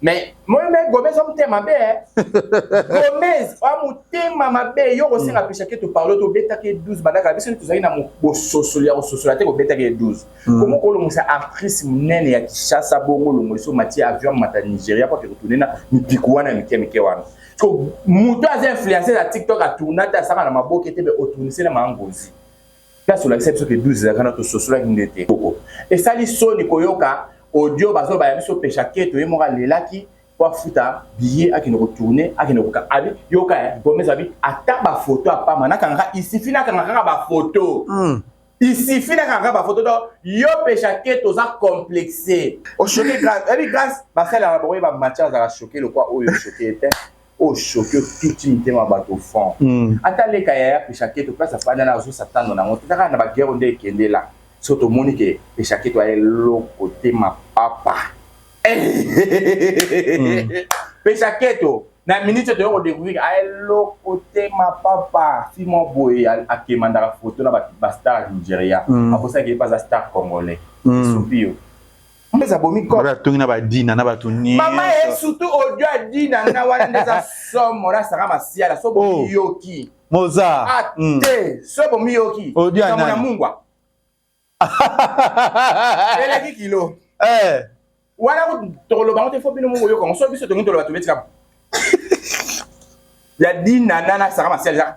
mais moi mais Gomez on mutema mabe eh. Gomez on mutema mabe yo kosenga pesha ke to parle to beta ke 12 badaka biso tozali na bososoli ya kososola te kobeta ke 12 komo kolongisa actrice monene ya Kinshasa bongo longo so mati avion mata Nigeria kwa ke retourner na mipiku wana mike mike wana moto aza influencer na TikTok a tourna te asaka na maboke te mais otournisela ma ngozi place olakisa biso ke 12 ezalaka na tososolaki nde te koko esali soni koyoka audio bazobaya biso pesha keto ye moko alelaki po afuta biye akende kotourne akende koka abi yoka eh, gomez abi ata bafoto ya pamba nakangaka isifi nakanga kaka bafoto mm. isifi nakanga kaka bafoto to yo pesha keto oza complexe oshoke grace ebi grace basalelaka bakoye bamatia azalaka shoke lokwa oyo shoke ete O choque otuti mitema ya bato fond. Ata leka yaya peshaketo place afandi wana azo s'attendre na yango te. Eza kaka na ba guerre oyo nde ekende la biso tomoni que peshaketo aza eloko te mapapa. Peshaketo na minute oyo toye ko decouvrir que aza eloko te mapapa. Fille moko boye a quemandaka photo na ba stars ya Nigeria. Abosani que ye pe aza star congolais. Esopi yo. mbeza bomi ko ba tongi na ba dina na batu ni mama e surtout audio a dina na wana ndeza somo na saka masiala so bo oh. yoki moza ate mm. so bo mi yoki audio na mona mungwa eleki kilo eh wana ko tokoloba ngo te fo bino mungu yoka ngo so biso tongi toloba tobetika ya dina na na saka masiala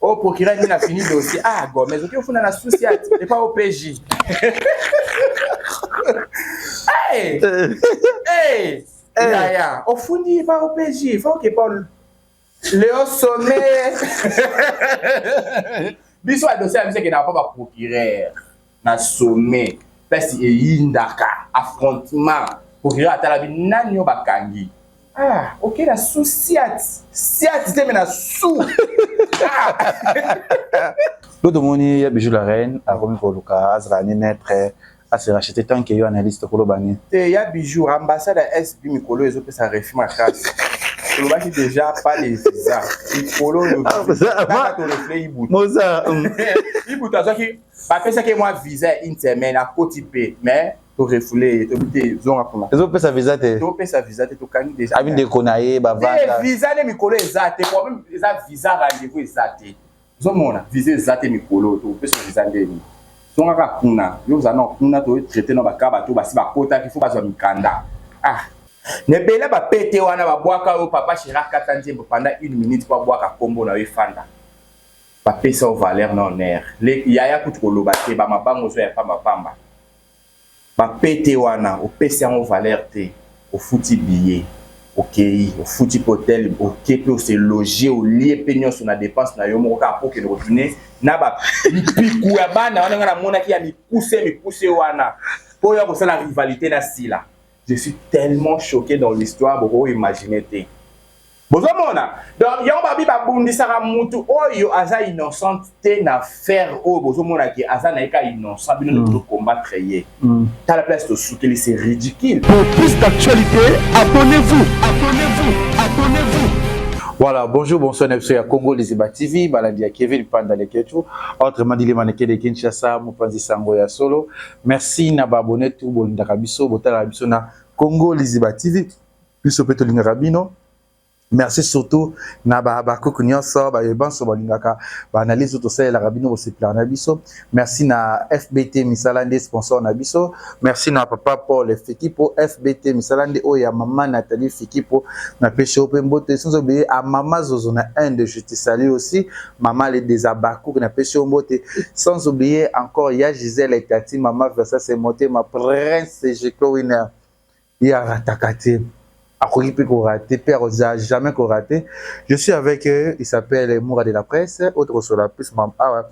Oh, procureur nini afini dossier? Ah, Gomez, oki ofunda na souci ati, et pas au PJ. hey! Hey! Yaya, ofundi epa au PJ, faut que Paul le haut sommet. Biso adossier abisaki na papa procureur. na sommet place eyindaka affrontement procureur atalabi nani yo bakangi ah ok na su siat siat te me na su lo tomoni ya bijou la reine akomi koluka azala ni neutre ase racheter tant que yo analyste koloba ni te ya bijou ambassade ya sb mikolo ezopesa refi makasi olobaki deja pas les visa mikolo oyo tolefle ibutu ibutu azwaki bapesaki ye mwa visa ya une semaine akoti mpe mais torefule ye tobi te zonga kuna ezopesa visa te topesa visa te tokangi deja abi ndeko na ye bavanda visa nde mikolo eza te problème eza visa rendez-vous eza te ozomona visa eza te mikolo tokopesa visa ndeni zonga kaka kuna yo oza na kuna toye traite na baka bato basi bakotaki fo bazwa mikanda ah nebela bapete wana babwaka oyo papa shera kata nzembo pendant une minute po abwaka nkombo na yo efanda Ba pesa yo valeur na honneur. Le yaya kutu ko loba te ba mabanga ozua ya pamba pamba. Ba pete wana opesi yango valeur te. Ofuti billet okeyi, ofuti pe hotel oke pe o se loger olie pe nionso na depense na yo moko kaka po okende ko tourner na ba mpiku ya bana wana nga na monaki ya mikuse mikuse wana po oya ko sala rivalite na Sila. Je suis tellement choque dans l'histoire boko imaginer te. bozomona donc yango babi babundisaka mutu oyo aza innocente te na faire oyo bozomona ke aza na ye ka innocent bino nde mm. bozokombattre ye mm. tala place tosukeli c'est ridicule pour plus d'actualité abonnez-vous abonnez-vous abonnez-vous Voilà, bonjour, bonsoir, Nepso ya Congo, les Iba TV, Balandi ya Kevin Panda Leketu, entre Mandili Maneke de Kinshasa, Mupanzi Sango ya Solo. Merci na babone tout, bolindaka biso, botala biso na Congo, les Iba TV. biso mpe tolingaka bino merci surtout na bahabakuku nyonso baye banso balingaka baanalyse tosalelaka bino bosepelaka na biso merci na fbt misala nde sponsor na biso merci na papa paul fikipo fbt misala nde oyo ya mama nathalie fikipo napesi yo mpe mboto esinzo beye a mama zozo na inde je te salue aussi mama le des habakuku napesi yo mbote sans oublier encore ya gisele tati mama versa se motema prince jeko winner Ye a rataka te, akoki pe ko rater pe ako za jamais ko rater. Je suis avec il s'appelle Mura de la presse oyo toko solola plus ma awa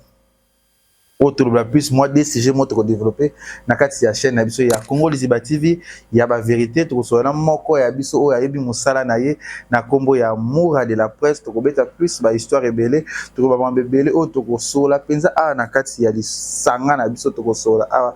oyo tolobela plus mwa de sujet moko toko developper na kati ya chaîne na biso ya Congo Liziba TV ya ba verite. Toko solola na moko ya biso oyo ayebi mosala na ye na kombo ya Mura de la presse. Toko beta plus ba histoire ebele, toko loba makambo ebele oyo toko solola penza awa na kati ya lisanga na biso toko solola awa.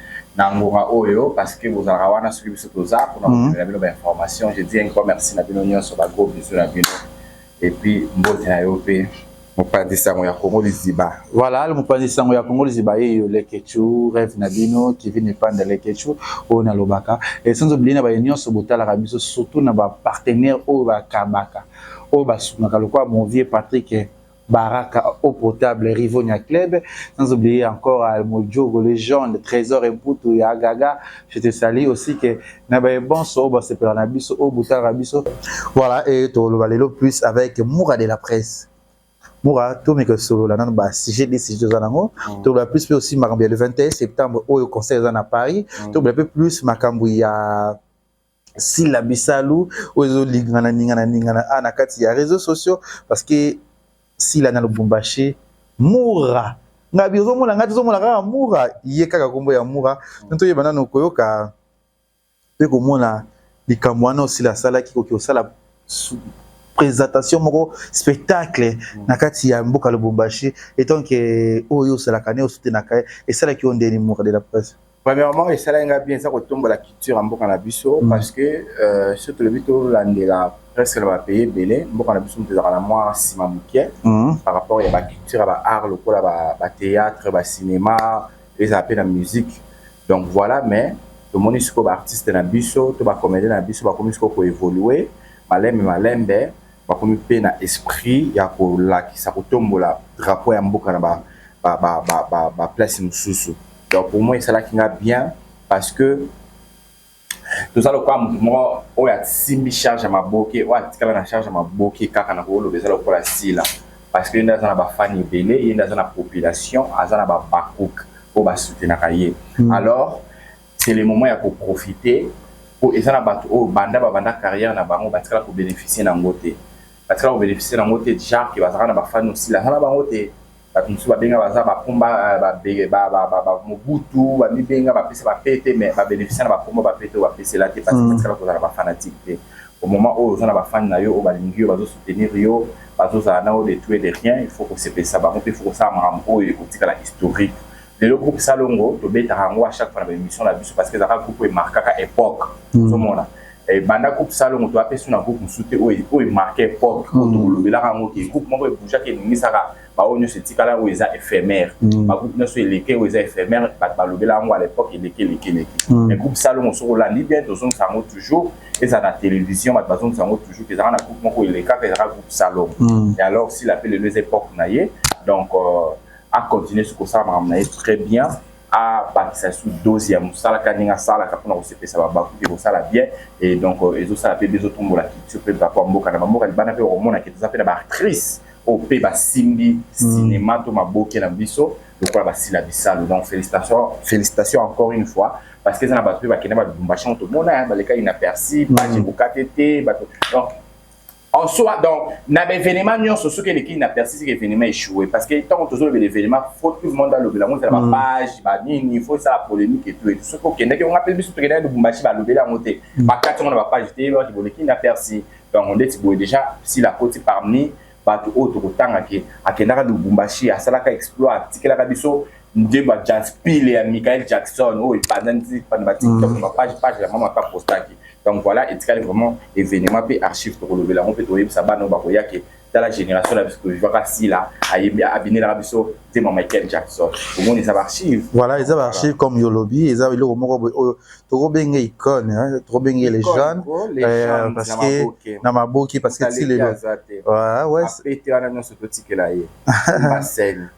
na ngonga oyo parce que bozalaka wana soki biso toza mpona mhm. komemela bino bainformation je dis un grand merci na bino nyonso bagros biso na bino epuis mbote na yo mpe mopanzi sango ya kongo liziba voilà le mopanzi sango ya kongo liziba yeyo lekechu rêve na bino kevin epanda lekechu oyo nalobaka esanzo bili na baye nyonso botalaka biso surtout na bapartenaire oyo bakabaka oyo basungaka lokola mon vieux patrick Baraka au potable, Rivonia Club, sans oublier encore euh, Mojogo, Legende, Trésor et Mputu, ya Gaga, je te salue aussi que na ba bonso au basepela na biso au butara biso. Voilà et to lelo plus avec Moura de la presse. Moura to meka solo la nan ba sujet des sujets za nango, mm. to la plus pe aussi makambo le 21 septembre au conseil za na Paris, mm. to la plus makambo ya Sila Bisalu oyo ezo lingana ningana ningana a na kati ya réseaux sociaux parce que Sila na Lubumbashi Mura nga bi ozo mona nga tozo mona kaka Mura ye kaka kombo ya Mura nto yeba nano koyoka pe komona likambo wana osila asalaki koki osala présentation moko spectacle na kati ya mboka Lubumbashi etant que oyo osalaka ne osutenaka esalaki yo ndeni Mura de la presse Premièrement, esalaki nga bien eza kotombola culture ya mboka na biso mm. parce que euh, soki tolobi tolandela presque na bapays ebele mboka na biso moto ezalaka na mwa nsima moke mm. par rapport ya baculture ya baart lokola bathéâtre bacinéma ezala mpe na musique donc voilà mais tomoni sikoyo baartiste na biso to bacomédien na biso bakomi sikoyo koévolue malembe malembe bakomi mpe na esprit ya kolakisa kotombola drapeau ya mboka na baplace ba, ba, ba, ba mosusu donc pour moi esalaki nga bien parce que toza lokola moto moko oyo asimbi charge ya maboke oyo atikala na charge ya maboke kaka na koloba eza lokola sila parce que ye nde aza na bafani ebele ye nde aza na population aza na babakouk oyo basoutenaka ye hmm. alors c'est le moment ya koprofite mpo eza na bato oyo banda babanda carrière na bango batikala kobénéficie na yango te batikala kobénéficie na yango te jacque bazalaka na bafani osila aza na bango te Bato mosusu babenga baza bakumba ba Mobutu bamibenga bapesa ba pete mais ba beneficia na bakombo ba pete oyo bapesela te parce que batikala kozala ba fanatique te au moment oyo oza na ba fan na yo oyo balingi yo bazo soutenir yo bazozala na yo de tout et de rien il faut kosepelisa bango mpe il faut kosala makambo oyo ekotikala historique lelo groupe salongo tobetaka yango a chaque fois na baémission na biso parce que ezalaka groupe emarkaka époque hmm. ozomona ebanda eh, groupe salongo to apesi na groupe mosusu te oyo emarke époque oyo hmm. tokolobelaka yango ke groupe moko ebougeaka enungisaka baoyo nyonso etikala oyo eza éphémère hmm. bagroupe nyonso eleke oyo eza éphémère bato balobela yango à l'époque eleki eleki eleki mais groupe salongo soki olandi bien tozongisa yango toujours ezala na télévision bato bazongisa yango toujours ezalaka na groupe moko elekaka ezalaka groupe salongo et alors sila mpe lelo eza époque na ye donc euh, a continuer su kosala makambo na ye très bien abakisa su dose ya mosala kaka ndenge asalaka mpona kosepesa babaku mpe kosala bien et donc euh, ezosala mpe bezotombola culture mpe bapo ya mboka na bamboka libanda mpe bakomona ke toza mpe na baactrice oyo mpe basimbi hmm. cinéma to maboke na biso lokola basila bisalu donc félicitation félicitation encore une fois parce que eza na bato mpe bakenda balubumbashi yango tomona baleka inaperci hmm. baje kokate te bato donc en soi donc na ba événement nyonso soki eleki na persi seke événement échoué parce que ntango tozolobela événement faut tout le monde alobela yango ezala ba mm. page banini faut esala polémique et tout et tout soki okendaki onga mpe biso tokendaki lubumbashi balobeli yango te mm. bakati yango na ba page te loki boleki na persi donc ndeti boye déjà sila akoti parmi bato oyo tokotangaki akendaka lubumbashi asalaka exploit atikelaka biso nzembo ya jaspile ya michael jackson oyo epanzani na batiktok na bapage page ya mama mpe apostaki donc voilà etikali vraiment événement mpe archive tokolobela yango mpe toyebisa bana oyo bakoya ke tala génération na biso tovivaka sila ayembi abinelaka biso nzembo ya michael jackson omoni eza baarchive voilà eza baarchive comme yolobi eza eloko moko boye oyo tokobenge icone tokobenge les jeunes euh, parce que na maboki parce que ti lelo ouais wana nyonso totikela ye basene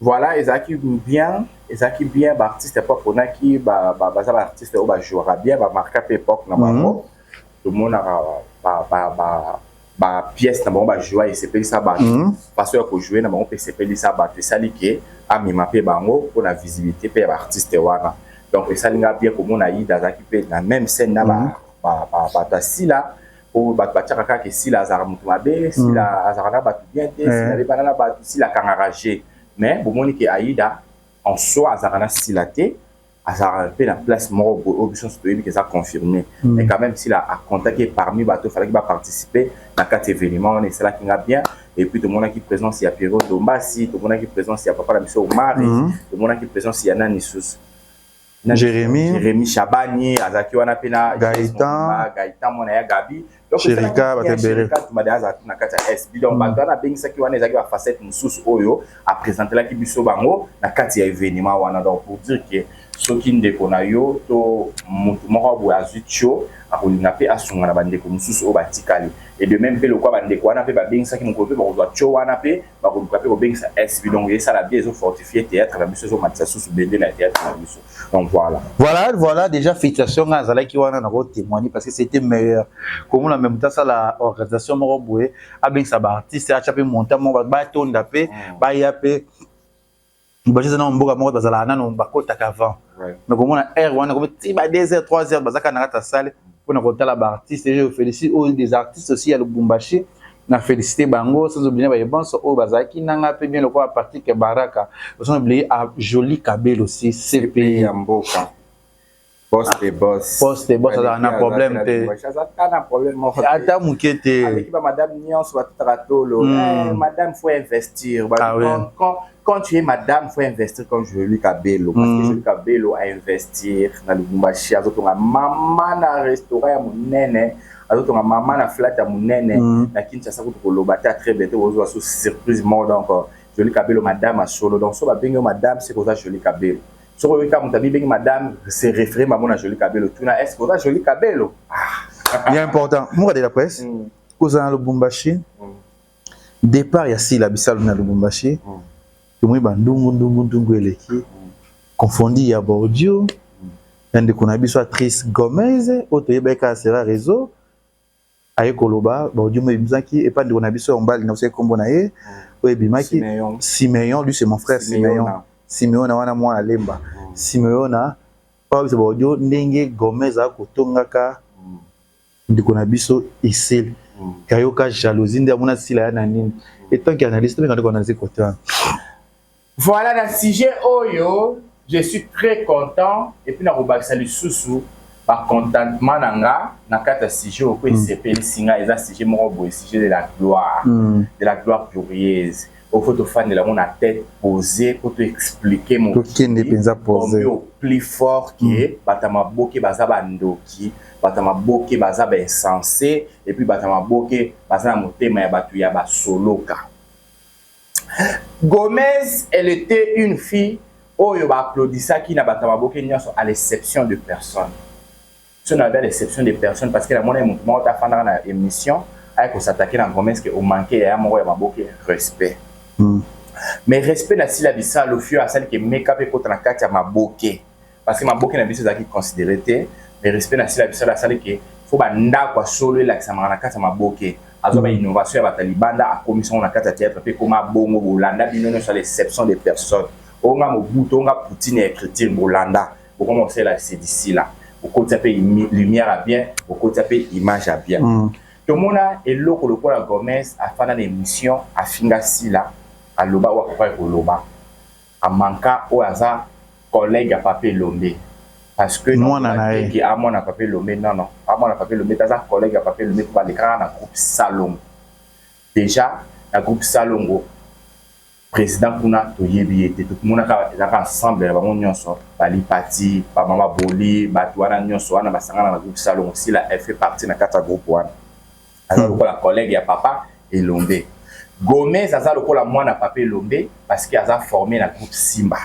Voilà ezalaki bien ezalaki bien ba artistes po aponaki baza ba artistes oyo ba jouaka bien ba marqua pe epoque na bango tomonaka ba pièces na bango ba joua esepelisa bato façon ya ko jouer na bango pe esepelisa bato esali ke amema pe bango pona visibilité pe ya ba artistes wana donc esali nga bien komona Aida azalaki pe na meme scène na bato ya Sila po bato batiaka kaka ke sila azalaka moto mabe sila mm. azalaka na bato bien te mm. sila abebana na bato sila akangaka je mais bomoni ke aida en soi azalaka na sila te azalaka mpe na place moko boye oyo biso nyonso toyebi ke eza confirme mm. mais quand même sila acontaki parmi bato efalaki baparticipe na kati événement wana esalaki nga bien et puis tomonaki présence ya pierrot dombasi tomonaki présence ya papa na biso omari mm. tomonaki présence ya nani susu na Jérémie Jérémie Shabani azaki wana pe na Gaëtan Gaëtan mwana ya Gabi donc Chérika batebere tumade aza na kati ya SB donc bato wana abengisaki wana ezalaki ba facette mosusu oyo a présentelaki biso bango na kati ya événement wana donc pour dire que soki ndeko na yo to motu moko boye azwi tio akolinga mpe asunga na bandeko mosusu oyo batikali et de même mpe lokwa bandeko wana mpe babengisaki mokolo mpe bakozwa tio wana mpe bakoluka mpe kobengisa SB donc esala bien ezo fortifier théâtre na biso ezomatisa susu bendele ya théâtre na biso donc voilà voilà voilà déjà félicitation nga azalaki wana na kotémoigner parce que c'était meilleur komona meme moto asala organisation moko boye abengisa baartiste atya mpe montant moko batonda mpe mm. baya mpe bato eza nao mboka moko bazalaka nano bakotaka avant mais komona heure wana komi ti ba 2 heures 3 heures bazaka na kati ya sale mpona kotala baartiste je félicite oyo des artistes aussi ya lubumbashi na félicité bango sans oublier baye banso oyo bazalaki nanga mpe bien lokola patrick baraka sans oublier a joli kabel aussi cp ya mboka Poste boss. Poste boss azala na problème te. Ata muke te. Avec ba madame nyonso ba tutaka tolo. Hmm. Eh, madame faut investir. Ba ah, oui. quand, quand tu es madame faut investir comme je lui Kabelo parce que je lui Kabelo a investir na Lubumbashi azotonga mama na restaurant ya munene azotonga mama na flat ya munene hmm. na Kinshasa kutu koloba ta très bientôt ozwa surprise moko donc je lui Kabelo madame a solo donc so ba bengi madame c'est koza je lui Kabelo soko oyoki kaka moto abibengi madame se référé bango na jolie kabelo tuna est ce que oza jolie kabelo ah. ya important moka de la presse mm. kozala na lubumbashi mm. départ ya sila bisalu na lubumbashi mm. tomoni bandungu ndungu ndungu eleki mm. confondi ya bordio mm. ya ndeko na biso atrice gomez oyo toyebaki kaka sera réseau Aye koloba, ba audio moye ebimaki epa ndeko na biso ya mobali na bosangi kombo na ye, oyo ebimaki Simeon, lui c'est mon frère Simeon, Simeona wana mwana lemba, Simeona po abimisa ba audio ndenge Gomez aza kotongaka ndeko na biso Esili, ke ayoka jalousie nde amona Sila aya na nini, etant ke analyste, tobengaka nde ko analyse cote wana. Voilà na sujet oyo je suis très content et puis nakobakisa lisusu ba contentement na nga na kati ya sujet oyo mpe esepelisi nga eza sujet moko boye sujet de la gloire mm. de la gloire glorieuse oyo fo tofandela yango na tête posée mpo to explike mokende mpenza pose plus fort ke mm. bato ya maboke baza bandoki bato ya maboke baza bainsense epuis bato ya maboke baza na motema ya bato ya basoloka Gomez elle etait une fille oyo ba applaudissaki na batu ya maboke nionso à l'exception de personne. Ce n'avait l'exception de personne parce que namonaki mutu moko te afandaka na emission aye ko s'attaquer na Gomez que o manquer yaya moko ya maboke respect. Mais respect na Sila Bisalu fille oyo asali que make up ekota na kati ya maboke. Parce que maboke na biso ezalaki considere te, mais respect na sila bisala asali ke faut ba ndako ya solo elakisamaka na kati ya maboke. Azwa ba innovation ya bato ya libanda akomisa yango na kati ya theatre mpe ekoma bongo. Bolanda bino nyonso à l'exception de personne. Oyo nga Mobutu, oyo nga Poutine ya ecriture bolanda. Bokoma kosalela Sedi Sila. Bokotisa mpe lumière ya bien, bokotisa mpe image ya bien. Tomona eloko lokola Gomez afanda na emission afinga Sila aloba oyo akokaki koloba. A manqua oyo aza collegue ya papa elombe parce que Mwana na ye. que a mwana papa elombe non non a mwana papa elombe te aza collegue ya papa elombe po ba lekaka na groupe salongo dejà na groupe salongo president kuna toyebi ye te to monaka ezalaka ensemble ya bango nyonso ba lipati ba mama boli batu wana nyonso wana ba sangana na groupe salongo sila elle fait partie na kati ya groupe wana aza hmm. lokola collègue ya papa elombe gomez aza lokola mwana papa elombe parce que aza formé na groupe simba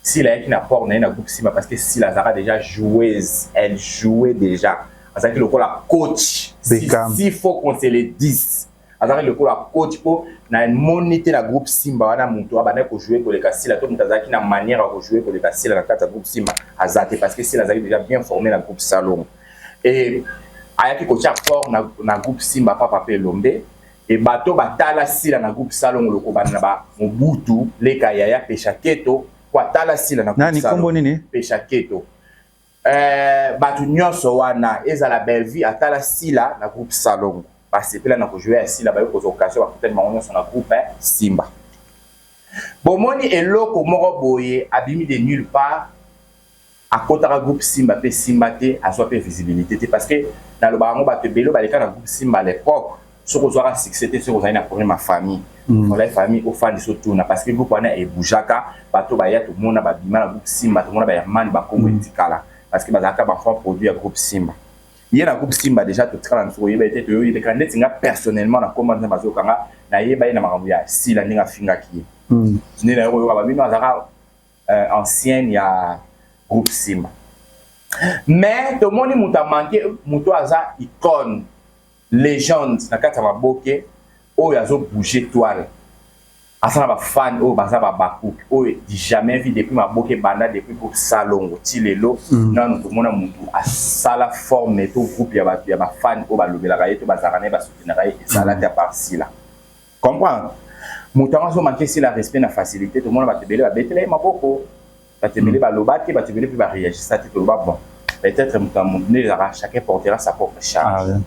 sila ayaki na port na ye na groupe simba parce que sila azalaka déjà joueuse elle jouait déjà azalaki lokola coach si, si faut qu'on se le dise azalaki lokola coach mpo namoni te na groupe simba wana moto abandaki kojoue koleka sila to moto azalaki na manière ya kojoue koleka sila na kati ya groupe simba aza te parce que sila azalaki déjà bien formé na groupe salongo Et ayaki kotia corps na, na groupe Simba Papa pe Elombe et bato batala Sila na groupe Salongo lokobanda na ba Mobutu, Leka Yaya, Pesha Keto, po atala Sila na groupe Salongo. Nani kombo nini? Pesha Keto. Euh, bato nyonso wana ezala Bellevue atala Sila na groupe Salongo. Basepela na kojouer ya Sila, bayo kozwa occasion bakutani bango nyonso na groupe eh, Simba. Bomoni eloko moko boye abimi de nulle part akotaka groupe simba pe simba te azwa pe visibilite te parce que nalobaka yango bato ebele baleka na groupe simba à l'époque soki ozwaka succès te soki ozali na problème ya famille mm. olai famille ofandisa otuna parce que groupe wana eboujaka bato baya tomona babima na groupe simba tomona bahermane bakongo mm. etikala parce que bazalaka banfant produit ya groupe simba ye na groupe simba déjà totikala nso koyeba ete toyoyebeka ndeti nga personnellement na koma nzambe azoyoka nga nayeba ye na makambo ya sila ndenge afingaki ye mm. nde nayokoyoka babino azalaka euh, ancienne ya groupe Simba. Mais tomoni moto a manque moto aza icône legende na kati ya maboke oyo azo bouger toile aza na bafane oyo baza babakuki oyo du jamais vie depuis maboke ebanda depuis groupe salongo ti lelo mm. nanu tomona motu asala forme to groupe ya bato ya bafane oyo balobelaka ye to bazalaka na ye basoutenaka ye ezalaki mm. ya parsila Comprendre? Moto yango azomanke si la respect na facilité tomona bato ebele babetela ye maboko bato ebele hmm. baloba te bato ebele mpe bareagisa te toloba bon peut-être moto ya moto nde ezalaka chacun portera sa propre charge ah,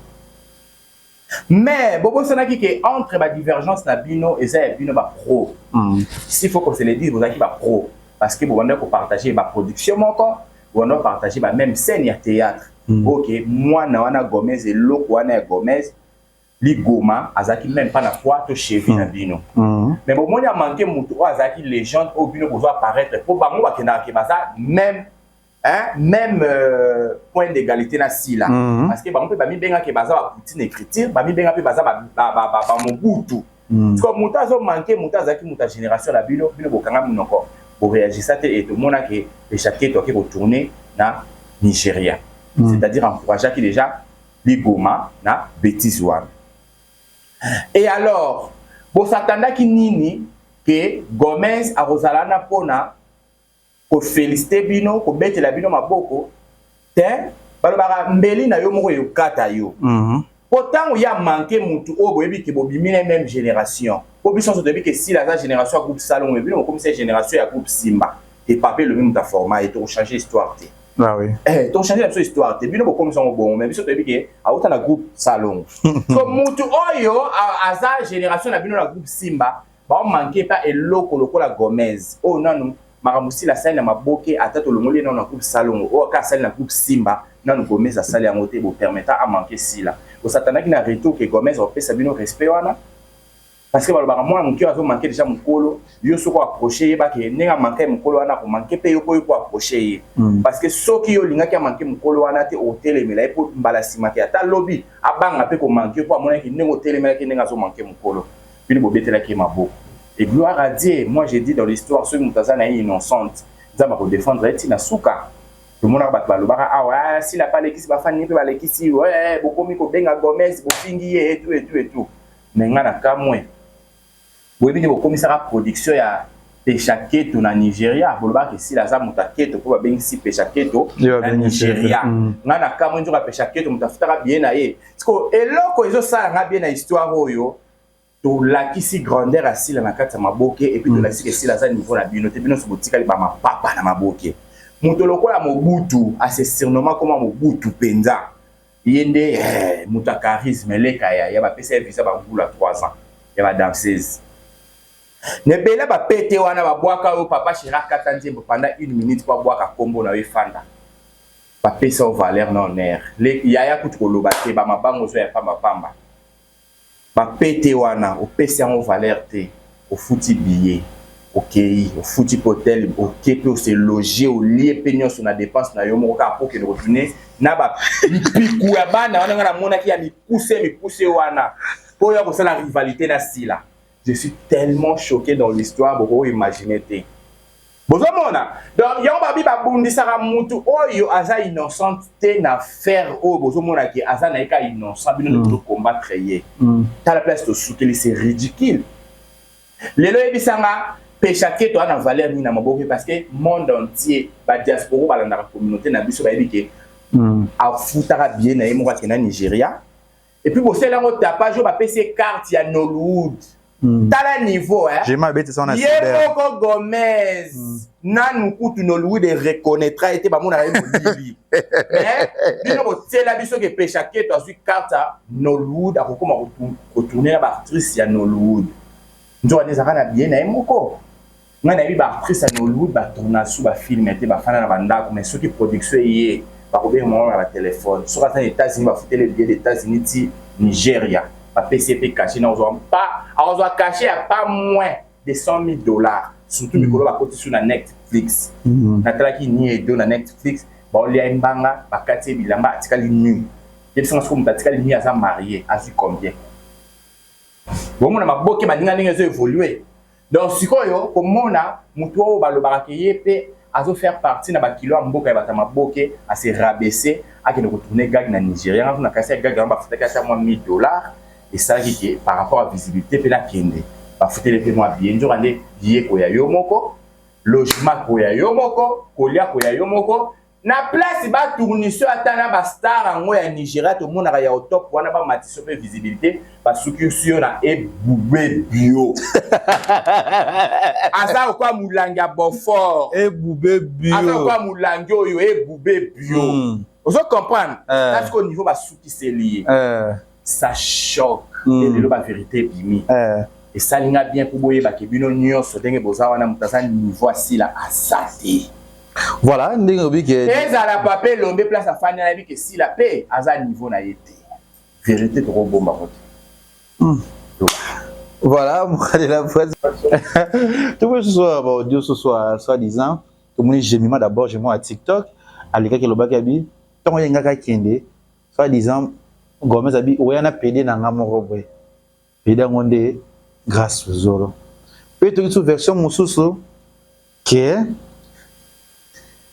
mais bobosanaki ke entre badivergence na bino eza ya bino bapro hmm. s'il faut qu'on se le dise bozalaki bapro parce que bobandaki kopartage baproduction moko bobandaki kopartage bameme scène ya théâtre hmm. oke mwana wana gomez eloko wana ya gomez ligoma azalaki meme pas na poids to cheville na bino mais bomoni a manque moto oyo azalaki légende oyo bino bozo apparaître mpo bango bakendaka ke baza meme hein, même euh, point d'égalité na sila mm -hmm. parce que bango mpe bamibenga ke baza ba poutine écriture bamibenga mpe baza bamobutu ba, ba, ba, ba mm. siko moto azomanke moto azalaki moto ya génération na bino bino bokanga monoko boreagisa te e tomona ke echapke toake kotourne na nigeria mm. c'est-à-dire encourageaki déjà liboma na betise wana et alors bosatandaki nini ke gomez akozala na mpona kofelisite bino kobetela bino maboko te balobaka mbeli na yo moko eyokata yo mpo mm -hmm. ntango ya manke motu oyo boyebi ke bobimi na meme génération mpo biso nyonso toyebi ke sila aza génération ya groupe salongo bino bokomisa génération ya groupe simba Et papa elobi moto aforma ye tokochange histoire te Ah oui. Eh, tokochange na biso histoire te bino bokomisa yango bongo mais biso toyebi ke awuta na groupe salongo so motu oyo aza génération na bino na groupe simba baomanke pa eloko lokola gomez oyo oh, nanu makambo sila asali na maboke ata tolongoli ye nano na groupe salongo oyo oh, aka asali na groupe simba nanu gomez asali yango te bopermeta amanke sila osatanaki na retour ke gomez akopesa bino respect wana parce que balobaka mwana moke azo manke deja mokolo yo soki oaproche ye bake ndenge amanke mokolo wana akomanke mpe yoko yoko aproche ye mm. parce que soki yo olingaki amanke mokolo wana te otelemela ye mpo mbala nsima te ata lobi abanga mpe komanke mpo amonaki ndenge otelemelaki ndenge azomanke mokolo bino bobetelaki ye maboko et gloire à dieu moi je dis dans l'histoire soki moto aza na ye innocente nzambe akodefendre ye ntina suka tomonaka bato balobaka awa ah, sila mpe alekisi bafani mpe balekisi bokomi kobenga gomez bofingi ye etu etu etu Mais nga na kamue. Boyebi nde bokomisaka production ya Pesha Keto na Nigeria, bolobaka ke Sila aza moto ya Keto po babengisi Pesha Keto na Nigeria. Nga na kamue nzoka Pesha Keto moto afutaka billet na ye. Sikoyo eloko ezosala nga bien na histoire oyo, tolakisi grandeur ya Sila na kati ya Maboke et puis tolakisi ke Sila aza niveau na bino te, bino nionso botikali ba mapapa na Maboke. Moto lokola Mobutu a se surnomma koma Mobutu penza. Ye nde ehh mutu ya charisme leka yaya ba pesa ye visa ba mbula trois ans ya ba danseuse mais bela ba pete wana ba bwaka yo papa cheri akata nzembo pendant une minute po abwaka kombo nayo efanda ba pesa yo valeur na honneur lek yaya kutu koloba te ba mabangu ozwa ya pamba pamba. Ba pete wana opesi yango valeur te, ofuti billet okeyi, ofuti pe hotel oke pe o se loger olie pe nionso na depense na yo moko kaka po okende ko tourner na ba mpiku ya bana wana nga na monaki ya mikuse mikuse wana po oya kosala rivalite na Sila. Je suis tellement choque dans l'histoire bokoki ko imaginer te. bozomona donc yango babi babundisaka mutu oyo aza innocente te na faire oyo bozomona ke aza na ye ka innocent bino nde mm. bozokombattre ye mm. tala place tosukeli se ridicule lelo yebisanga pesha keto ana valeur nini na maboke parce que monde entier badiasporo balandaka communauté na biso bayebi ke mm. afutaka bie na ye moko akenda nigeria Et puis bosala yango tapage oyo bapesi ye carte ya Nollywood. Mm. Tala niveau hein. J'ai mal bête ça on a cyber. Yemoko Gomez. Mm. Nanu kutu Nollywood et reconnaîtra ete bamona ye molibi. Mais bino botsela biso ke pesha keto azui carte ya Nollywood akokoma kotourner na ba actrice ya Nollywood. Nzoka ezaka na bien na ye moko. ngai nayebi ba actrice ya nollywood ba tourna su ba film te bafanda na bandako mais soki production eye bakobenga bango na ba telephone soki aza na etats unis bafutele billet de etats unis ti nigeria bapesi ye mpe cache na kozwa mpa akozwa cache ya pas moins de 100 000 dollars surtout mikolo bakoti su na netflix natalaki ni edo na netflix baolia ye mbanga bakati ye bilamba atikali nu yebisanga soki moto atikali nu aza marie azwi combien Bomona maboke baninga ndenge ezo evoluer. Donc sikoyo komona mutu oyo balobaka ke ye pe azo faire partie na ba kilo ya mboka ya bato ya maboke a se rabaisser akende ko tourner gag na Nigeria nga kuna kasi ya gag yango bafutaki ata mwa 1000 dollars esalaki ke par rapport ya visibilité pe nakende bafuteli pe mwa billet nzoka nde billet ekoya yo moko logement ekoya yo moko kolia ekoya yo moko Na place ba tourniseux ata na ba star yango ya Nigeria tomonaka ya au top wana ba matiso pe visibilité ba suki yo na ebube bio. Aza okwa mulangi ya Beaufort. Ebube bio. Aza okwa mulangi oyo ebube bio. Mm. Ozo comprendre? Eh. Parce qu'au niveau ba suki c'est lié. Eh. ça choque mm. et lelo ba vérité ebimi eh. esali nga bien mpo boyebaki bino nyonso ndenge boza wana moto aza niveau asila aza te voilà ndenge obi ke ezala papa elombe place afandi nayebi ke sila mpe aza niveau na ye te vérité tokobomba ngo te hmm. voilà mokalela prince tokoki susu baaudio susu soit disant tomoni gemima d'abord gemima ya tiktok alekaki elobaki abi ntango ayengaki akende soit disant Gomez abi oya na pede na nga moko boye pede yango nde Grace Luzolo mpe toki so version mosusu ke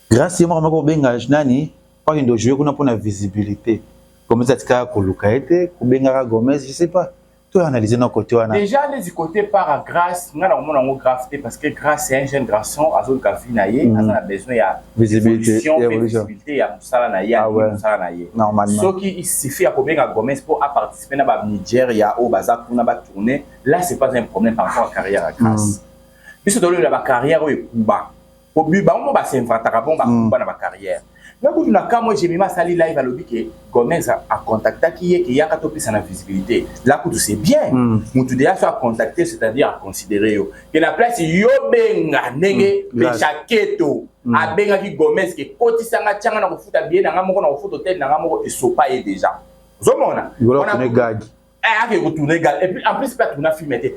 Grace ye moko amaki kobenga nani mpaki ndo joue kuna mpo na visibilité Gomez atikaka koluka ye te kobengaka Gomez je sais pas To analyser na côté wana. Déjà les côté par à grâce, nga na komona ngo grave te parce que grâce c'est un jeune garçon azo ka vie na ye, mm. aza na besoin ya visibilité, ya visibilité ya musala na ye, ah ouais. musala na ye. Normalement. Ce qui il suffit à kobenga Gomez pour à participer na ba Nigeria au baza kuna ba tourner, là c'est pas un problème par rapport à carrière à grâce. Mm. Biso tolobela ba carrière oyo ekuba. po bi bango ba s'inventaka bon ba kumba na ba carrière na kutu na kamwe Jemima asali live alobi ke Gomez a contactaki ye ke yaka topesa na visibilité la kutu c'est bien mutu deja so a contacter c'est-à-dire a considérer yo ke na place yo benga ndenge Pecha Keto abengaki Gomez ke kotisa nga tianga na kofuta billet na nga moko na kofuta hotel na nga moko esopa ye deja ozomona Golo apone gagi Eh, ake ko tourner gag. Et puis en plus pas tourner film était.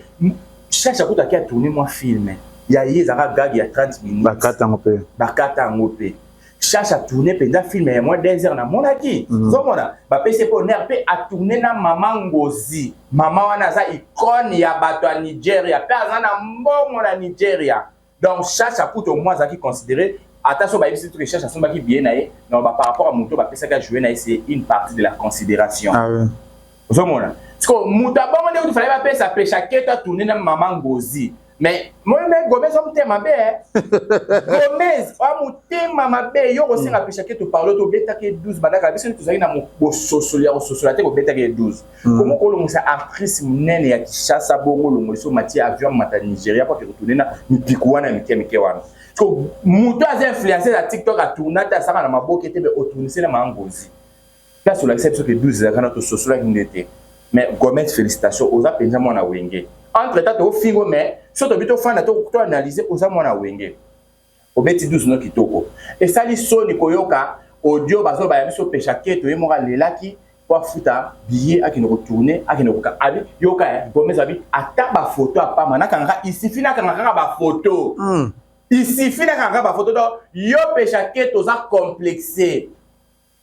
Cherche à côté qui a tourné moi film. Il y a eu zaka gag il y a 30 minutes. Bakata ngope. Bakata ngope. Cherche à tourner pendant film et moi des heures na mon aki. Mhm. Zomona. Ba PC pour nerpe a tourner na maman Ngozi. Maman wana za icône ya bato ya Nigeria. Pe azana mbongo na Nigeria. donc chacha kutu omoi azalaki considere ata so bayebisi biso ke chacha asombaki biye na ye donc par rapport ya moto bapesaki ajoue na ye c'est une partie de la considération ah, oui. ozomona sikoyo moto abongo nde kutu fale bapesa pesha keto atourne na mama ngozi mais moi me gomez oa motema mabe gomez oa motema mabe yo kosenga pesha keto parle to obetaki 12 bandaka biso tozalaki na bososoli ya kososola te kobetaki 12 Mm. Comment olongisa actrice munene ya Kinshasa bongo olongoliso mati avion mata Nigeria kwa kekutune na mipiku wana mike mike wana. Ko moto aza influencer na TikTok a tourna ta saka na maboke te be otournise na mangozi. Place olakisa biso ke 12 zaka na to sosola kinde te. Mais Gomet félicitations oza penza mwana wenge. Entre temps to fingo mais soto bito fana to to analyser oza mwana wenge. Obeti 12 no kitoko. Esali soni koyoka audio bazoloba ya biso pesha keto ye moko alelaki po afuta billet akende ko tourner akende ko abi yoka eh gomes abi ata ba photo ya pamba nakanga kaka il suffit nakanga kaka ba photo il suffit nakanga kaka ba photo donc yo pesha keto oza complexe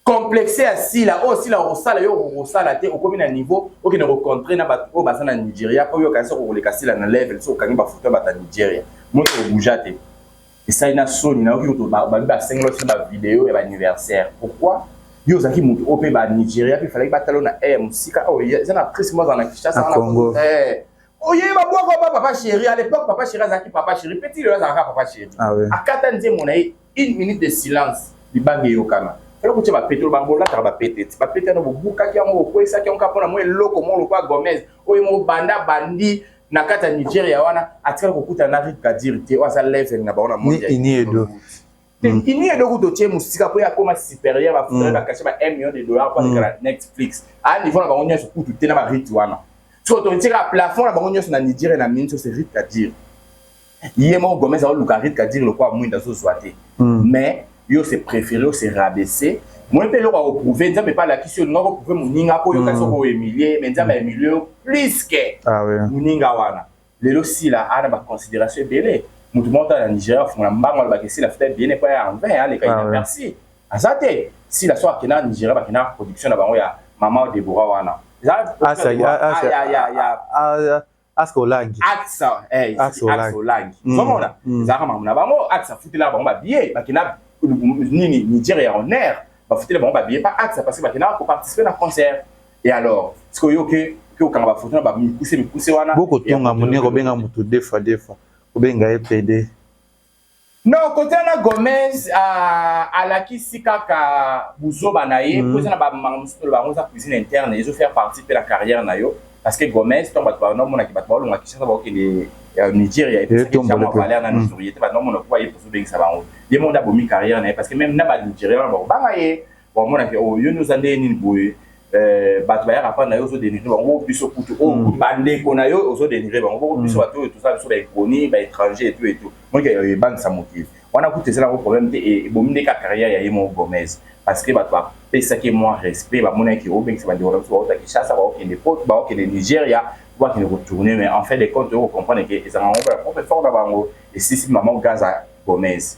complexe ya sila oyo oh, sila okosala yo okosala te okomi na niveau okende kocontre na bato oyo baza na nigeria mpo yo okanisa kokoleka sila na level so okangi bafoto ya bato ya nigeria moto obuja te esali na soni na yoki moto babi basengela osi bavideo ya baanniversaire pourquoi yo ozalaki moto oyo mpe banigeria mpe efalaki batalo na air mosika oyo oh, eza na prise moko azala na kinshasa na congo eh. oye babwaka ba papa chéri à l'époque papa chéri azalaki papa chéri mpe ti lelo azalaka papa chéri ah akata nzembo na ye Une minute de silence libanga eyokana. Fallait kotia ba petolo ba bolataka ba pete ti ba pete na bobukaki yango okwesaki yango kapona mwa eloko mwa lokwa Gomez oyo mo banda bandi na kati ya Nigeria wana atikala kokutana na Rick Kadiri te oyo aza level na bango na monde ya ini edo te mm. ini edo kuto tie musika po ya koma supérieur ba frais mm. ba cacher ba 1 million de dollars pour aller mm. Netflix a niveau na bango nyoso kutu te na ba Rick wana so to tika plafond na bango nyoso na Nigeria na minso c'est Rick Kadiri ye moko gomez aoluka rit kadiri lokola mwinda azozwa te mm. mais yo se préféré yo se rabaisser moi mpe eloko akoprouve nzambe mpe alakisi yo olinga koprouve moninga mpo oyoka soko oemilie me nzambe aemilie yo plus ke ah moninga wana lelo sila ana baconsidération ebele motu moko tala na nigeria afungola mbango alobaka esila fita ebele mpo ya envin aleka ina merci aza te sila so akenda nigeria bakenda production na bango ya mama debora wana axe olangi axe eh axe olangi somona mm. mm. zaka mamu na bango axe futela bango ba billet bakina nini Niger ya honneur bafutela bango ba billet pas axe parce que bakina ko participer na concert et alors ce que yoke que okanga ba photo na ba mikuse mikuse wana boko tonga muneko benga mutu defa defa obenga ye pede Non kote wana Gomez uh, alakisi kaka buzoba na ye mm. po eza na bamanga mosusu toloba yango eza cuisine interne ezo faire partie mpe na carrière na yo parce que Gomez ntango bato banaomonaki bato baolonga Kinshasa bakokende ya Nigeria epesaki jambo valeur na Nigeria te banaomona kuba ye poso obengisa bango ye moko nde abomi carrière na ye parce que même na ba Nigeria wana bakobanga ye Wamona ke oh, yo nde oza ndenge nini boye eh, bato bayaka mpa na yo ozo denigre bango biso kutu o oh, mm. bandeko na yo ozo denigre bango boko biso mm. bato oyo toza biso baekoni baétranger etu etu moike ebangisa mokili wana kutu ezala yango problème te e, ebomi nde ka carrière ya ye moko gomez parce que bato bapesaki mwa respect bamonaki obengisa bandeko na biso baota kinshasa baokende pot baokende nigeria bakende kotourne mais en fait de compte oyo comprendre ke ezalaka yango ya propre fort na bango esisi mama gaza gomez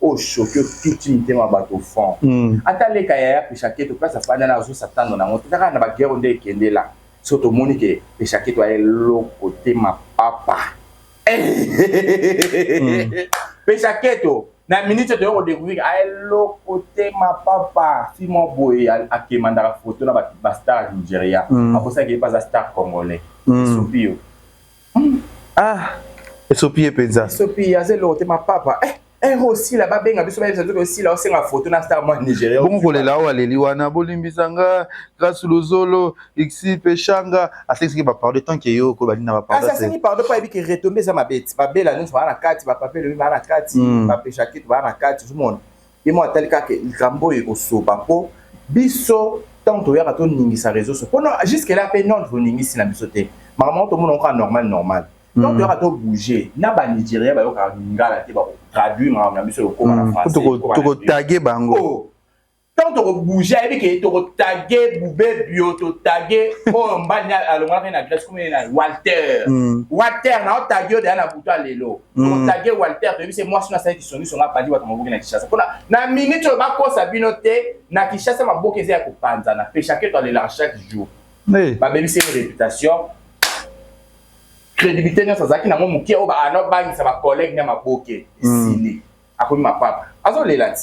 O choque otuti mitema ya bato fond. Ata leka yaya Peshaketo place afandi wana azo s'attendre na yango te. Kaka na ba guerre oyo nde ekende la biso tomoni que Peshaketo aza eloko te mapapa. Peshaketo na minute oyo toye ko decouvrir que aza eloko te mapapa. Fille moko boye a quemandaka photo na ba stars ya Nigeria. Akosaki que ye mpe aza star congolais. Esopi yo. Ah, esopi ye penza. Esopi ye aza eloko te ma papa. Eh, eh Rosi la babenga biso bayebisa nzoki Rosi la osenga foto na star mwa Nigeria. Bongo kolela oyo aleli wana bolimbisa nga Grace Luzolo, Ixi Peshanga, asekisiki ba pardon tant que yo ko balinda ba pardon. Kasi asengi pardon pa yebi ke retombe eza mabeti. Babela nyonso baa na kati, ba pape lobi baa na kati, ba pesha kitu baa na kati, ozomona. ye moko atali kaka ke likambo oyo ekosopa mpo biso ntango toyaka toningisa réseau so mpo jusque là mpe nord boningisi na biso te makambo yango tomonaka kaka normal normal donc hmm. toyaka tobouge na banigeria bayokaka lingala te bakotraduire makambo na biso lokoma na hmm. français tokotage bango oh. ntango tokobouge ayebi ke tokotage bubebio totage oyo mbani alongaka na grèce komene na walter hmm. walter na otage yo deya na butu ya lelo Mm. Tage Walter toyebi se mwasi na sali kisoni songa padi watu maboke na Kinshasa. Pona na minute oyo bakosa bino te na Kinshasa maboke eza ya kopanzana pe chacun doit le la chaque jour. Oui. Ba bebi se reputation crédibilité nyonso azalaki nango moke oyo baana obangisa bacollègue na maboke esili mm. akomi mapapa azolela ti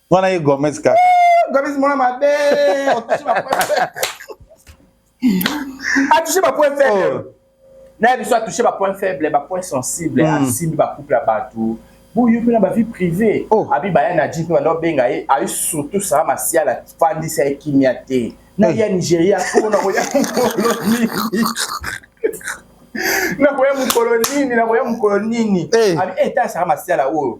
Wana ye Gomez kaka. Gomez mwana mabe. Otushi ba point faible. Atushi ba point faible. Oh. Na biso atushi ba point faible, ba point sensible, hmm. asimbi ba couple ya bato. boye mpe na bavie privé oh. abi baya na ji mpe banda obenga ye aye surtout sara masiala fandisa ye kimia te na ya nigeria mpona koya mokolo nini nakoya mokolo nini nakoya mokolo nini abi eta sara masiala oyo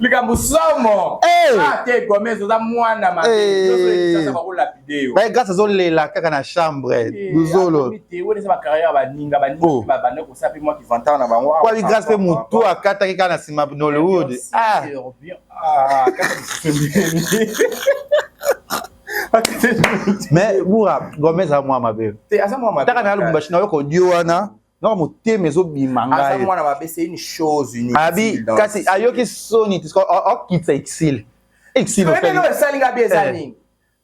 likambo somo eh! ah, te gomez oza mwana mabegas azolela kaka na chambre luzolo kwali gras mpe motu akataki kaka na nsima nollywood ah! Ah, mais bura gomez aza mwa mabe taka na ya lubumbashi na yo kodio wana naka motema ezobima ngai mwana mabe c'est une chose unique abi kasi ayoki soni akitisa exil exil esali ngai bi eza eh. nini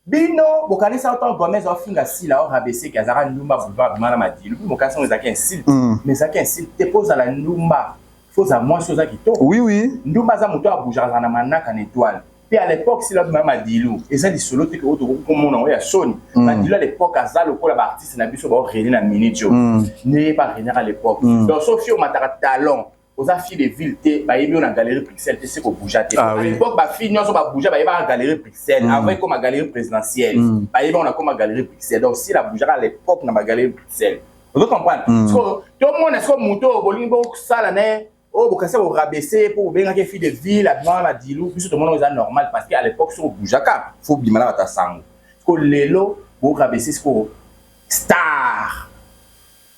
bino bokanisa ntango gomez afinga sila o rabeseke azalaka ndumba boulevard bima na madilu bi mokanisi yango ezalaki insulte mm. mais ezalaki insulte te mpo ozala ndumba fo ozala mwasi oza kitoko oui oui ndumba aza moto ya bouge azala na manaka na etoile mpe à l'époque sila bima madilu eza lisolo te oyo tokoki komona yango ya soni mm. madilu à l'époque aza lokola baartiste na biso baorene na minute oyo mm. ndeye barenaka à l'époque mm. donc soki omataka talent oza fille de ville te bayebi yo na galerie bruxelles te se kobouja te ah à l'époque bafille nyonso babouja bayebaka galerie bruxelles avant ekoma galerie présidentielle bayebi yango nakoma galerie bruxelles donc sila boujaka à l'époque na bagalerie bruxelles ozo comprendre sikoyo tomona sikoyo moto oyo bolingi bosala na ye oyo bokasi ya korabese ye mpo bobengaki ye fille de ville abimaka na dilu biso tomona eza normal parce que à l'époque soki obujaka fo obima na bato ya sango siko lelo borabese sikoyo star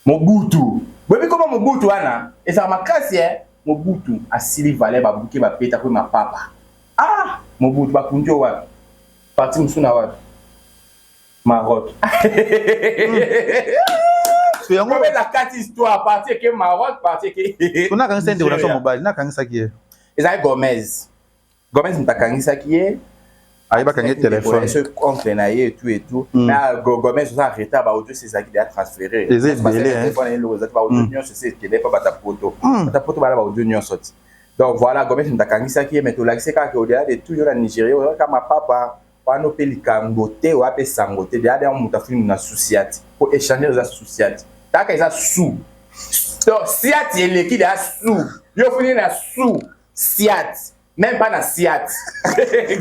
mobutu boyebi koma mobutu wana ezala makasi e mobutu asili vale babuke bapeta kwe mapapa ah mobutu bakundi yo wapi parti mosusu na wapi Maroc. so yango Comme la carte histoire partie que Maroc partie que so na kangisa nde relation mobali na kangisa ki ye ezali Gomez Gomez mutakangisa ki ye ayebaka nge telefone ce compte na ye tout et tout hmm. na Gomez oza retard ba audio c'est zaki déjà transféré eza ebele hein telefone ye lokola ba audio hmm. nyonso c'est tele pa bata poto hmm. bata poto bala ba audio nyonso ti donc voilà Gomez mutakangisa ki ye mais tolakisi kaka au delà de tout yo na Nigeria oza kama papa Wana ope likanbo te oya pe sango te deja deja mutu afuni mutu na susiati po echanger eza susiati kaka eza su to siati eleki deja su yo ofuni na su siati meme pas na siati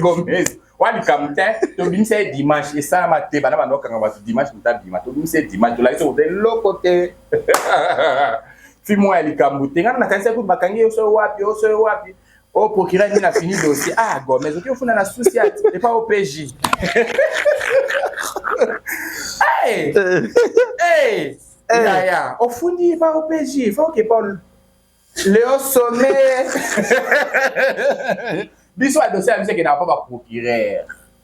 gomez wana likambo te tobimisa ye dimanche esalama te bana banda kokanga bato dimanche moto abima tobimisa ye dimanche tolakisi koza eloko te fi mwa ya likambo te ngana nakanisaki kutu bakangi yo soki wapi yo soki wapi Oh, procureur nini afini dossier? Ah, Gomez, oki ofuna na souci ati, et pas au PJ. hey! Hey! Yaya, ofundi epa au PJ, faut que Paul le au sommet. Biso adossier ya biso ekendaka mpo ba procureur.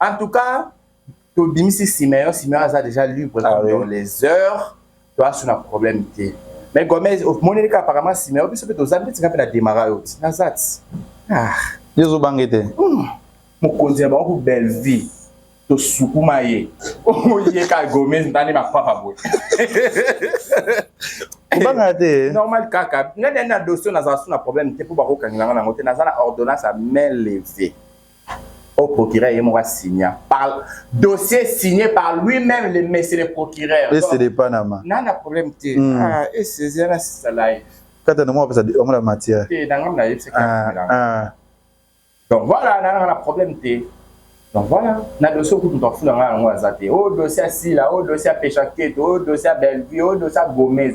En tout cas, tobimisi Simeon, Simeon aza déjà libre ah, oui. dans les heures, toa suna problème te. Mais Gomez, omoneli ka apparemment Simeon, biso pe toza neti ngape na demara yo ti. Naza ti. Ah. Yezo bange te. Hmm. Mokonzi ya bango ku Bellevue. tosukuma ye oye ka gomez ndani mapapa boye kobanga te normal kaka ngai nani na dossier nazala su na problème te mpo bakokangela ngai nango te naza na ordonnance ya main levée au procureur ye moko asigna par dossier signé par lui-même le monsieur le procureur et c'est de Panama n'a na problème te mm. ah et c'est là c'est ça live kata na moi pesa on la matière et dans ngam na yep c'est ah, ah donc voilà n'a na problème te donc voilà na dossier ko tout en fou na ngam ngwa za te oh dossier si là oh dossier pêche enquête oh dossier Bellevue oh dossier Gomez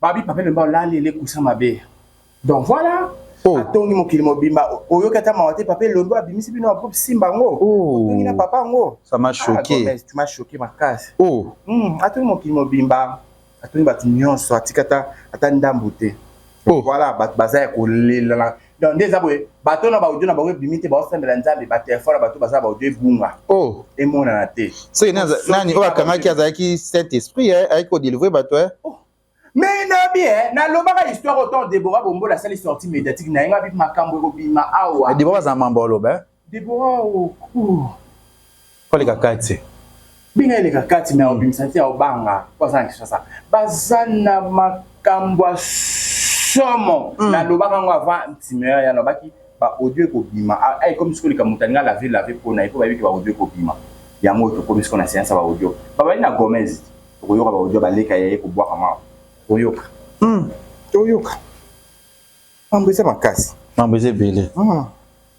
Babi Papa Wemba olali ele kusa mabe. Donc voilà, oh. atongi mokili mobimba oyoki ata mawa te papa elondo abimisi bino ya groupe simba yango oh. otongi na papa yango ça m'a ah, choqué ah, tu m'as choqué makasi oh. mm, atongi mokili mobimba atongi bato nyonso atika ata ata ndambu te oh. voilà bato baza ya kolela donc nde eza boye bato na baaudio na bango ebimi te baosambela nzambe batelefone ya bato baza na baaudio ebunga oh. emonana te soki nani oyo akangaki azalaki saint esprit eh, ayaki kodelivre bato eh. oh. mais nabi eh, nalobaka histoire autant debora bombola asali sorti médiatique na ye ngabi makambo ekobima awa debora azala mambo aloba Deborah au cours. Fally kakati. Benga ye le kakati mais obimisa te obanga po aza na Kinshasa. Baza na makambo ya somo. Nalobaka yango avant Ntimeyer ye alobaki ba audio ekobima. Awa ekomi sikoyo likambo moto alingi a laver laver po na ye po bayebi ke ba audio ekobima. Yango oyo tokomi sikoyo na seance ya ba audio. Babandi na Gomez. Tokoyoka ba audio ya Baleka ya ye kobwakama awa. Toyoka. Toyoka. Mambo eza makasi. Mambo eza ebele.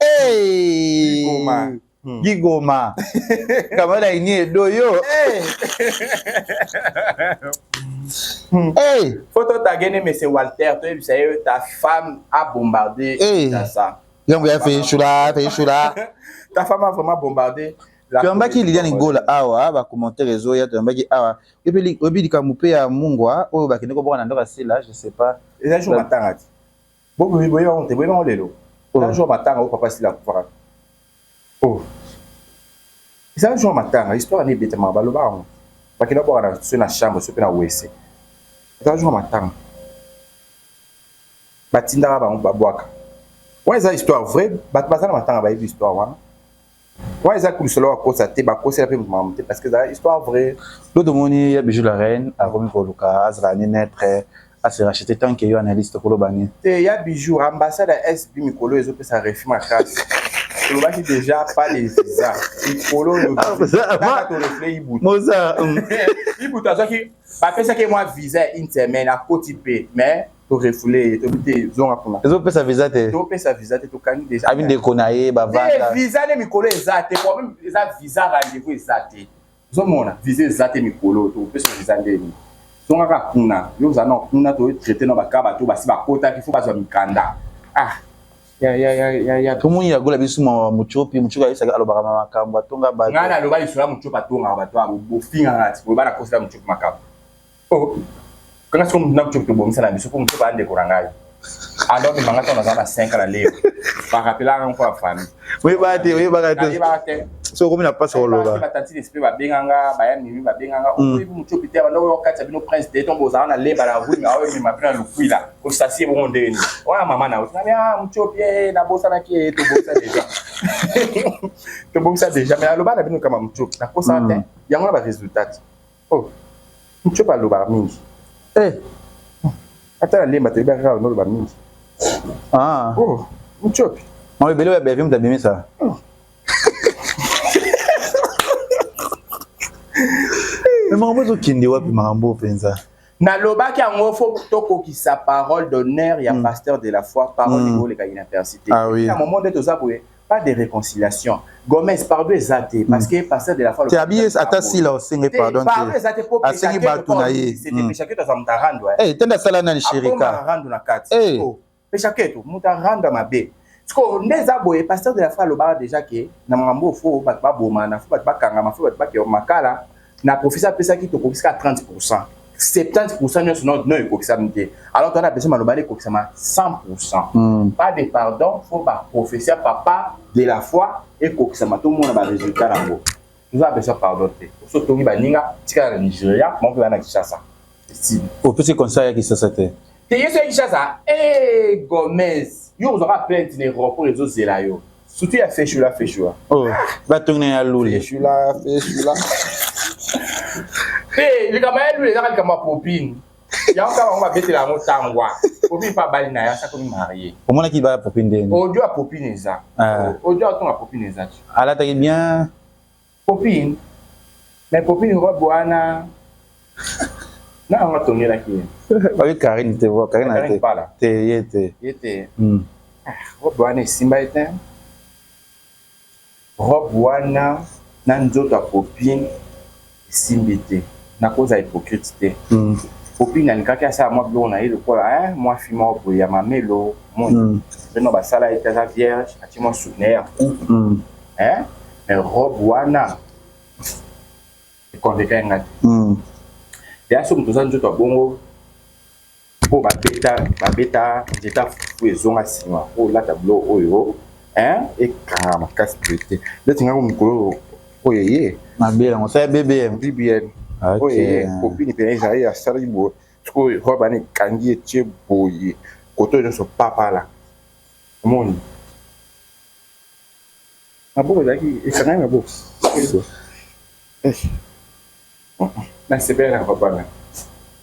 Hey! Gigoma. Hmm. Gigoma. Kamala ini edo yo. Hey! Hmm. hey! Faut to tagene mais c'est Walter, toi tu sais ta femme a bombardé hey. ta ça. Yango ya fait choula, fait choula. Ta femme a vraiment bombardé. toyambaki liliane gola awa bacommentaire ezoya toyambaki awa oyebi likambo mpe ya mungwa oyo bakende kobwaka na ndako ya sila je sais pas eza jour matanga ti Bo boye boye on te boye bango lelo. La joie matanga au papa sila kufaka. Oh. Eza la joie matanga histoire ni beta ma baloba ngo. Bakina bwa na sur na chambre sur na wese. Eza la joie matanga. Batindaka bango babwaka. Ouais, eza histoire vraie, bato baza na matanga bayebi histoire wana. Ouais, ça coule solo à cause ça t'es bas cause la prime maman parce que ça histoire vraie. Le domoni ya bijou la reine a remis pour Luka Azra ni naître a se racheter tant qu'il y a analyste pour le bani. T'es ya bijou ambassade à SB Mikolo ils ont fait sa refus ma classe. olobaki déjà pas les visa likolo ibuta azwaki bapesaki mwa visa ya une semaine akoti mpe mais to refouler ye tobi te zonga kuna tozopesa visa te topesa visa te tokangi deja abi ndeko na ye bavanda visa nde mikolo eza te problème eza visa rendez-vous eza te ozomona visa eza te mikolo tokopesa visa ndeni zonga kaka kuna yo oza na kuna toyo traite na baka bato basi bakotaki fo bazwa mikanda ah tomoni yagola biso mawa mocopi mocopi ayebisaka alobaka ma makambo atonga bato ngai naloba lisolo ya mocopi atongaka bato yango bofingaka ti oyo bana kosela mocopi makambo Oh, kaka soko mutu na mutu tobomisa na biso mpo mosusu baa ndeko na ngai alors mimanga ntango naza na 5 na leo barapelaka nko ya famille oyebaka te oyebaka te oyebaka te so okomi na mpasi koloba batanti lespe babenganga baya mimi babenganga mm. oyebi motu pite banda oyo kati ya bino prince de ntongo ozala na lemba na rue aoyo mima mpe na lukwila osasi ebongo ndenge nini wana mama na otinami a motiopi e nabosanaki e tobongisa deja tobongisa deja mai aloba na bino kama motiopi nakosaka te mm. yango na baresultat Oh, Mtshiopa alobaka mingi. Eh, ata na lemba toyebi kaka oloba mingi. Ah. Oh, Mtshiopi. Mwa ebele oyo ya Bellevue moto abimisa. Oh. Mais makambo ezokende wapi makambo mpenza? nalobaki yango fo tokokisa parole d'honneur ya mm. pasteur de la foi parole mm. ekoleka inapercité ah, oui. na momo nde toza boye pas de reconciliation Gomez pardon eza te parce que pasteur de la foi tia bies ata sila osengi pardon pardon eza te po asengi batu na ye c'est te peshake to zamta rando eh tenda sala nani sherika rando na kati eh peshake to muta rando mabe sikoyo nde eza boye pasteur de la foi alobaka déjà ke na makambo fo bato babomana fo bato bakangama fo bato bakeo makala na profesi apesaki tokokisi kaka 30 pourcent 70 pourcent nyonso no no ekokisami te alors twana apesi maloba ale ekokisama 100 pourcent mm. pas de pardon fo baprofesi ya papa de la foi ekokisama tomona baresultat yango toza apesa pardon te oso tongi baninga tikala na nigeria maoke bana kishasa opesi conseil ya kisasa te te yesu ya kinshasa e eh, gomez yo ozwaka plainte na aéroport ezozela yo surtout ya feshula feshula oh, ah! batongi na ya lule feshula feshula mpe eh, likambo ya lule ezaka likambo ya popine yango kaka bango babetela yango tangwa popine mpe abali na ye asakomi marie omonaki baya popine ndeni odio ya popine eza odio atonga popine eza alataki bien Copine mais copine robe wana na anga tongelaki ye. Oyo Karine te bo Karine te. Te ye te. Ye te. Hmm. Ah, robe wana esimba ye te. Robe wana na nzoto ya copine esimbi te. Nakozala hypocrite te. Hmm. popine alingaki asala mwa biloko na ye lokola eh, mwa fi moko boye ya mamelo moni mm. basala ye te aza vierge atie mwa suki na ye ya kuku mm. eh? mais robe wana ekonveka nga te hmm. ya soki toza nzoto ya bongo mpo babeta babeta nzeta fufu ezonga nsima mpo olata bilo oyo ekanga makasi boye te ndeti ngai mokolo oyo eye mabe yango sa bbm bbm oyo eye kopini mpenza ezali asalaki boye sikoyo robe wana ekangi etie boye koto nyonso papala omoni Maboko ezalaki esangani na box. Eh. Na sepela na papa na.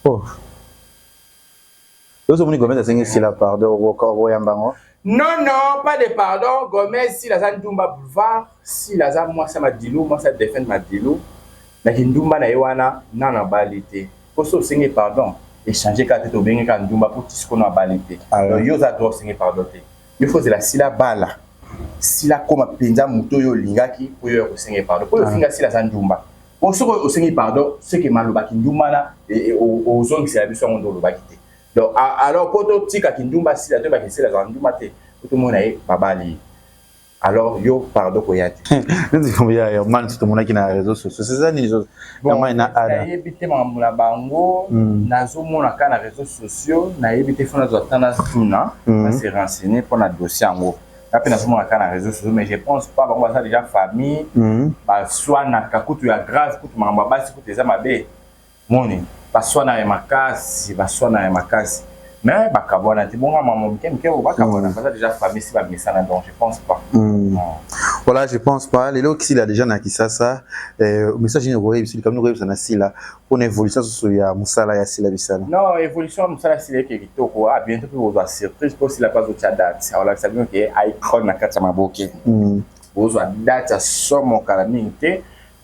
Oh. Ozo moni Gomez asengi sila pardon okoyamba yango. Non non pas de pardon Gomez sila aza ndumba boulevard sila aza mwasi ya madilu mwasi ya Delphine madilu na kindumba na ye wana nano abali te mpo so osengi pardon echange kaka te tobenge kaka ndumba mpo tisikono abali te ah, yo oza droit osengi pardon te yo faut zela sila bala sila koma penza moto oyo olingaki po yo ya kosenga pardon po ofinga ah. sila aza ndumba po soki osengi pardon seke maloba kindumba na e, e, ozongisela biso yango nde olobaki te donc alors po totika kindumba sila toyebaka esila azala ndumba te po tomona ye babali alors yo pardon koya te neti ya man tomonaki na réseau sociaux eza nini Bon, nayebi te makambo na bango mm. nazomona kaka na réseaux sociaux nayebi te fo nazwa ta nazotuna mm. nase renseigner mpo na dossier yango nga mpe nazomona kaka na réseaux sociaux mais je pense pas bango baza déjà famille mm. baswanaka kutu ya grave kutu makambo ya basi kutu eza mabe moni baswanaka ya makasi baswanaka ya makasi mais bakabwana te bonga mama moke moke oyo bakabwana mm. baza déjà famille si bamesana donc je pense pas mm. Ah. voilà je pense pas lelo kisila déjà na kisasa euh, message nini okoyebisa likambo okoyebisa na sila mpo na évolution susu ya mosala ya sila bisala non évolution ya mosala ya sila eke kitoko a ah, bientôt mpe kozwa surprise mpo sila mpe azotya date akolakisa bino ke icrone na kati ya maboke mm. ozwa date ya somo kala mingi te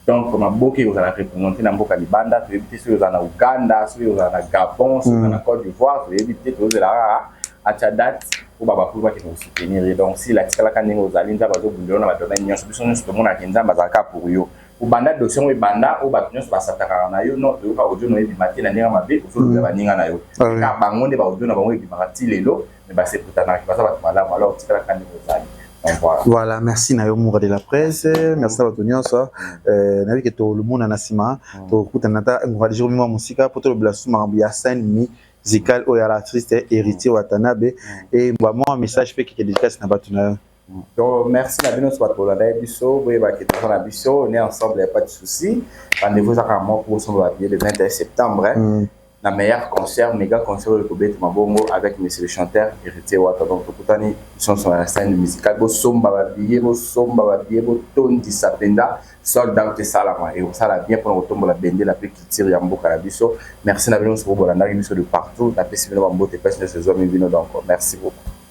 donc maboke ekozala represente na mboka libanda toyebi te soki ozala na uganda soki ozala na gabon soki ozala na mm. cote d'ivoire toyebi te tozela kaka atia date mpo babakulu bakende kosoutenir ye donc sila atikalaka ndenge ozali nzambe azobundela na bato na nyonso biso nyonso tomonaka nzambe azalaka pour yo obanda dosi yango ebanda oyo bato nyonso basatakaka na yo no toyoka audio na yo ebima te na ndenge mabe ozolobela mm. baninga na yo ah kaka bango nde baaudio na bango ebimaka ti lelo mais ba se kutanaka baza bato malamu alors tikala kaka ndenge ozali Voilà, merci na yo Moura de la presse, merci na bato nyonso euh, nayebi ke tolumona na nsima mm. tokutana ata ngora jour mima mosika mpo tolobela susu makambo ya scène mi musical oyo ya la triste héritier watanabe mm. e mbwa mwa message mpe keke dédicace na bato na yo To merci na bino soit bola dai biso boye ba kete na biso on est ensemble pas de souci rendez-vous za kama pour son ba le 21 septembre hein? mm. na meilleur concert mega concert le kobet mabongo avec monsieur le chanteur héritier wata donc tokutani son son la scène musicale bo somba ba billet bo somba ba billet bo tondi sapenda sold out salama et ça la bien pour tombola bende la plus culture ya mboka na biso merci na bino so bola na biso de partout na pesi bino ba mbote pesi na saison bino donc merci beaucoup